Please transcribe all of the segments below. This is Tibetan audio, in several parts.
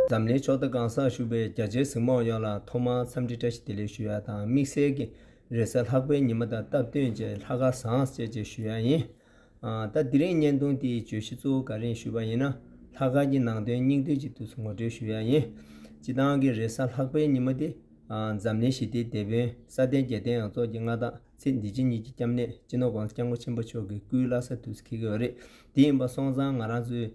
འཛམ་གླིང་ཕྱོགས་མཐའ་གང་སར་བཞུགས་པའི་རྒྱ་ཆེའི་གཟིགས་མང་ཡོངས་ལ་ཐོག་མར་འཚམས་འདྲི་བཀྲ་ཤིས་བདེ་ལེགས་ཞུ་ཡ་དང་དམིགས་བསལ་གྱི་རེས་གཟའ་ལྷག་པའི་ཉི་མ་དང་སྟབས་བསྟུན་བཅས་ལྷ་དགའ་བཟང་བསྩལ་བཅས་ཞུ་ཡ་ཡིན། ད་འདི་རིང་བརྙན་ཐུང་དེའི་བརྗོད་གཞི་གཙོ་བོ་ག་རེ་ཞུས་པ་ཡིན་ན་ལྷ་དགའ་གྱི་ནང་དོན་སྙིང་བསྡུས་ཅིག་ཏུ་ངོ་སྤྲོད་ཞུ་ཡ་ཡིན། སྤྱི་བཏང་གི་རེས་གཟའ་ལྷག་པའི་ཉི་མ་དེ་འཛམ་གླིང་ཞི་བདེའི་དེད་དཔོན་སྲ་བརྟན་རྒྱལ་བསྟན་ཡང་རྫོགས་ཀྱི་མངའ་བདག། ཚེ་འདི་ཕྱི་གཉིས་ཀྱི་སྐྱབས་གནས་སྤྱི་ནོར་བང་སྐྱ་སྔོ་ཆེན་པོ་མཆོག་གི་སྐུའི་བླ་ས་དུས་སུ་འཁེལ་གི་ཡོད་རེད་དེ་ཡིན་པ་སོང་ཙང་ང་རང་ཚོའི་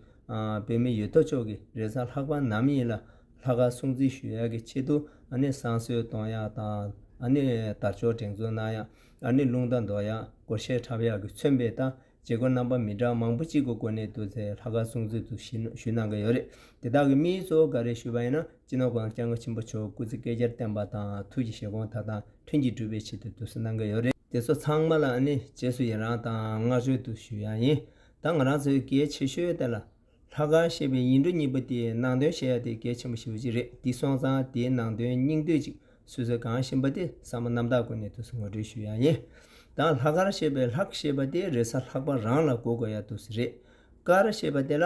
བོད་མི་ཡོད་དོ་ཅོག་གི་རེ་ས་ལྷག་པ་ནམ་ཡིན་ལ་ལྷ་ཁ་སྲུང་བརྩི་ཞུ་ཡག་གི་ཆེད་དུ་ཨ་ནེ་བསང་གསོལ་གཏོང་ཡག་དང་ཨ་ནེ་དར་ཅོག་དྲེང་འཛུགས་གནང་ཡག་ཨ་ནེ་རླུང་རྟ་འདོར་ཡག་སྒོར་གཞས་འཁྲབ་ཡག་གི་མཚོན་དཔེ་ལྟ་བྱེད་སྒོ་རྣམ་པ་མི་འདྲ་མང་པོ་གཅིག་གི་སྒོ་ནས་བསྡུར་ཚེ་ལྷག་དཀར་སྲུང་མཛོད་དུ་ཞུས་གནང་གི་ཡོད་རེད། དེ་དག་གི་དམིགས་ཡུལ་གཙོ་བོ་འགའ་རེ་ཞུས་པ་ཡིན་ན་སྤྱི་ནོར ྋགོང་ས ྋསྐྱབས་མགོན་ཆེན་པོ་མཆོག་སྐུ་ཚེ་བསྐལ་བརྒྱར་བརྟན་པ་དང་ཐུགས་ཀྱི་བཞེད་དགོངས་དག་དང་མཐུན་གྱིས་འགྲུབ་པའི་ཆེད་དུ་བསྡུ་གསོལ་གནང་གི་ཡོད་རེད། དེ་ཚོ་ཚང་མ་ལ་ནི་རྗེས་སུ་ཡི་རང་དང་བསྔགས་བརྗོད་དུ་ཞུ་ཡང་ཡིན། ད་ང་རང་ཚོའི་གལ་ཆེ་ཤོས་དེ་ལ། ལྷ་ཁང་ཞེས་པའི་ཡིག་འབྲུ་གཉིས་པོ་དེའི་ནང་དོན་བཤད་ཡ་དེ་གལ་ཆེན་པོ་ཞིག་ཡོད་ཀྱི་རེད་འདི་སོང་ཙང་དེའི་ནང་དོན་སྙིང་བསྡུས་ཅིག་སུད་སི་གང་ཞིམ་པ་དེ་ས་མོ་གནམ་བདག་དགོན་ནས་དུ་སི་ངོ་སྤྲོད་ཞུ་ཡ་ཡིན་དང་ལྷ་ཁར་ཞེས་པའི་ལྷག་ཞེས་པ་དེ་རེས་ས་ལྷག་པ་རང་ལ་གོ་དགོས་ཡ་དུ་སི་རེད་ཀར་ཞེས་པ་དེ་ལ་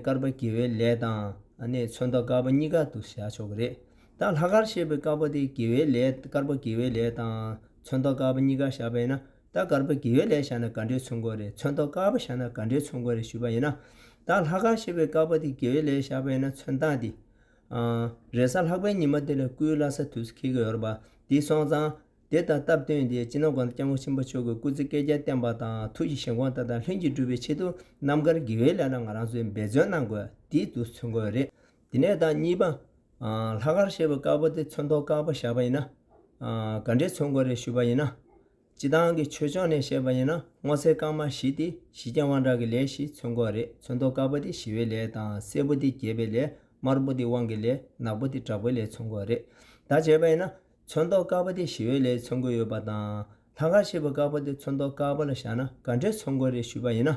ཀར་པ་དགེ་བའི་ལས་དང་ཚོན་མདོག་དཀར་པོ་གཉིས་ཀ་དུ་སི་བྱ་ཆོག་གི་རེད་ད་ལྷ་ཁར་ཞེས་པའི་དཀར་པོ་དེ་དགེ་བའི་ལས་ཀར་པ་དགེ་བའི་ལས་དང་ཚོན་མདོག་དཀར་པོ་གཉིས་ཀ་བྱ་བས་ན་ད་དཀར་པོ་གེའུ་ལས་བཞག་ན་དགའ་འབྲས་ཚོན་མགོ་རེད་ཚོན་མདོག་དཀར་པོ་བཞག་ན་དགའ་འབྲས་ཚོན་མགོ་རེད་ཞུས་པ་ཡིན་ན། ད་ལྷ་དཀར་ཞེས་པའི་དཀར་པོ་དེ་གེའུ་ལས་བཞག་པ་ཡིན་ན་ཚོན་མདངས་དེ། རེས་གཟའ་ལྷག་པའི་ཉི་མ་དེ་ལ་སྐུའི་བླ་ས་དུས་སུ་འཁེལ་གྱི་ཡོད་རེད་པ་དེ་སོང་ཙང། དེ་ལྟར་སྟབས་བསྟུན་ཏེ་སྤྱི་ནོར་དགོན་དུ་སྐྱབས་མགོན་ཆེན་པོ་མཆོག་གི་སྐུ་ཚེ་བསྐལ་བརྒྱར་བརྟན་པ་དང་ཐུགས་ཀྱི་བཞེད་དགོངས་ལྟར་དང་ལྷུན་གྱིས་འགྲུབ་པའི་ཆེད་དུ་རྣམ་དཀར་གེའུའི་ལས་ལ་ང་རང་ཚོས་འབད་བརྩོན་གནང་དགོས་དེ་དུས་སུ་ཚོན་མགོ་རེད་དེ་ནས་དང་གཉིས་པ། ལྷ་དཀར་ཞེས་པའི་དཀར་པོ་དེ་ཚོན་མདོག་དཀར་པོ་བཞག་པ་ཡིན་ན། ག་འདྲའི་ཚོན་མགོ་རེ་བཤུས་པ་ཡིན་ན། སྤྱི་བཏང་གི་ཆོས་ཕྱོགས་ནས་བཤད་པ་ཡིན་ན་སྔོ་སེར་དཀར་དམར་བཞི་སྟེ་བཞི་རྐྱང་དབང་དྲག་གི་ལས་བཞི་ཚོན་མགོ་རེ་ཚོན་མདོག་དཀར་པོ་དེ་ཞི་བའི་ལས་དང་སེར་པོ་དེ་རྒྱས་པའི་ལས་དམར་པོ་དེ་དབང་གི་ལས་ནག་པོ་དེ་དྲག་པོའི་ལས་ཚོན་མགོ་རེ་དག་བྱས་པ་ཡིན་ན། ཚོན་མདོག་དཀར་པོ་དེ་ཞི་བའི་ལས་ཚོན་མགོ་ཡོད་པ་དང། ལྷ་དཀར་ཞེས་པའི་དཀར་པོ་དེ་ཚོན་མདོག་དཀར་པོ་ལ་བཞག་ན་ག་འདྲའི་ཚོན་མགོ་རེ་བཤུས་པ་ཡིན་ན།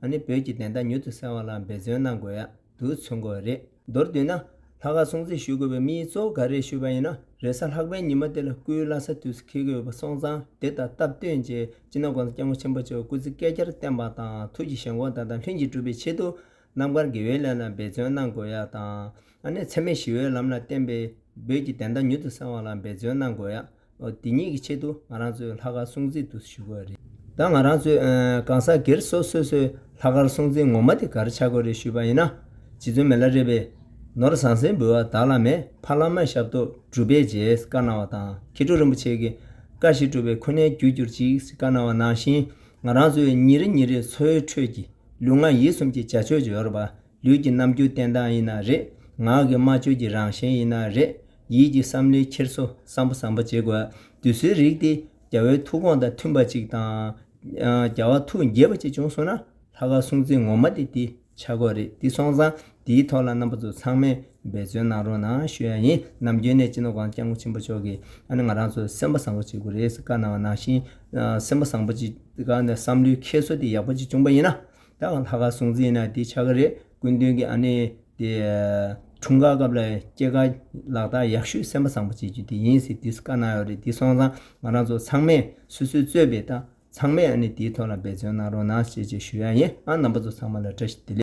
ད་ནི་བོད་ཀྱི་བདེན་མཐའ་མྱུར་དུ་གསལ་བ་ལ་འབད་བརྩོན་གནང་དགོས་ཡག་དུ་མཚོན་དགོས་རེད་མདོར་བསྡུས་ན། ལྷ་ཁ་སྲུང་བརྩི་ཞུ་དགོས་པའི་དམིགས་ཡུལ་གཙོ་བོ་ག་རེད་ཞུས་པ་ཡིན་ན་རེ་ས་ལྷག་པའི་ཉི་མ་དེ་ལ་སྐུའི་བླ་ས་དུས་སུ་འཁེལ་གི་ཡོད་པ་སོང་ཙང་དེ་ལྟར་སྟབས་བསྟུན་རྗེས་སྤྱི་ནོར་དགོན་དང་སྐྱབས་མགོན་ཆེན་པོ་བཅས་སྐུ་ཚེ་བསྐལ་བརྒྱར་བརྟན་པ་དང་ཐུགས་ཀྱི་ཞེན་ཁོག་དག་དང་ལྷུན་གྱིས་གྲུབ་པའི་ཆེད་དུ་རྣམ་དཀར་དགེ་བའི་ལས་ལ་འབད་བརྩོན་གནང་དགོས་ཡག་དང། ཨ་ནེ་འཚེ་མེད་ཞི་བའི་ལམ་ལ་བརྟེན་པའི་བོད་ཀྱི་བདེན་མཐའ་མྱུར་དུ་གསལ་བ་ལ་འབད་བརྩོན་གནང་དགོས། དེ་ཉིད་ཀྱི་ཆེད་དུ་ང་རང་ཚོས་ལྷག་དཀར་སྲུང་བརྩི་དུ་ཞུ་དགོས་རེད། ད་ང་རང་ཚོས་གང་ཟག་སྒེར་སོ་སོས་སོས་ལྷག་དཀར་སྲུང་བརྩི་ངོ་མ་དེ་གར་བྱ་དགོས་རེད་ཞུས་པ་ཡིན་ན། རྗེ་བཙུན་མེ་ལ་རས་པས། ནོར་བཟང་སྲིན་འབུལ་བ་བདག་ལ་མེད་ཕ་ལ་མ་ཞབས་ཏོག་གྲུབ་པས་རྗེས་བཀའ་གནང་བ་དང་མཁས་གྲུབ་རིན་པོ་ཆེ་གིས་བཀའ་བཞིན་གྲུབ་པའི་ཁོ་ནའི་རྒྱུ་གྱུར་ཅིག་ཅེས་བཀའ་གནང་བ་ནང་བཞིན་ང་རང་ཚོའི་ཉིན་རེ་ཉིན་རེའི་འཚོའི་ཁྲོད་ཀྱི་ལུས་ངག་ཡིད་གསུམ་གྱི་བྱ་སྤྱོད་ཇོ་ཡོར་བ་ལུས་ཀྱི་རྣམ་འགྱུར་བསྟན་སྟངས་ཡིན་ན་རེད། ངག་གི་སྨྲ་བརྗོད་ཀྱི་རང་བཞིན་ཡིན་ན་རེད། ཡིད་ཀྱི་བསམ་བློའི་འཁྱེར་སོ་བསམ་པ་བསམ་པ་བྱེད་དགོས། དུས་སུའི་རིགས་ཏེ། རྒྱ་བོའི་ཐུགས་དགོངས་དང་མཐུན་པ་ཅིག་དང། རྒྱ་བ་ཐུགས་དགྱེས་པ་ཅིག་བྱུང་སོང་ན། ལྷ་ཁ་སྲུང་བརྩི་ངོ་མ་དེ་དེ་ཆ་དགོས་རེད་དེ་སོང་ཙང་དེའི་ཐོག་ལ་རྣམ་པ་ཚོ་ཚང་མས་འབད་བརྩོན་གནང་རོགས་གནང་ཞུ་ཡ་ཡིན་ནམ་རྒྱུན་གནས་སྤྱི་ནོར་སྒང་སྐྱབས་མགོན་ཆེན་པོ་མཆོག་གིས་ཨ་ནི་ང་རང་ཚོ་སེམས་པ་བཟང་པོ་བྱེད་དགོས་རེད་ཟེར་བཀའ་གནང་བ་ནང་བཞིན་སེམས་པ་བཟང་པོ་བྱེད་དགའ་ནས་བསམ་བློའི་འཁྱེར་སོ་དེ་ཡག་པོ་ཅིག་བྱུང་པ་ཡིན་ན། ད་ང་ལྷ་ཁ་སྲུང་རྩིས་ན་དེ་ཆག་གི་རེད་སྐུ་མདུན་གྱི་ཨ་ནེ་དེ་འཁྲུངས་སྐར་སྐབས་ལ་སྐྱེས་སྐར་ལག་རྟགས་ཡག་ཤོས་སེམས་པ་བཟང་པོ་བྱེད་རྒྱུ་དེ་ཡིན་ཟེར་དུས་སུ་བཀའ་གནང་ཡོད་རེད་དེ་སོང་ཙང་ང་རང་ཚོ་ཚང་མས་སོ་སོའི་རྩོད་པའི་ལྟ་ཚང་མས་ཨ་ནེ་དེའི་ཐོག་ལ་འབད་བརྩོན་གནང་རོགས་གནང་བྱེད་ཅེས་ཞུ་ཡག་ཡིན་ཨང་རྣམ་པ་ཚོ་ཚང་མ་ལ་བཀྲ་ཤིས་བདེ་ལེགས།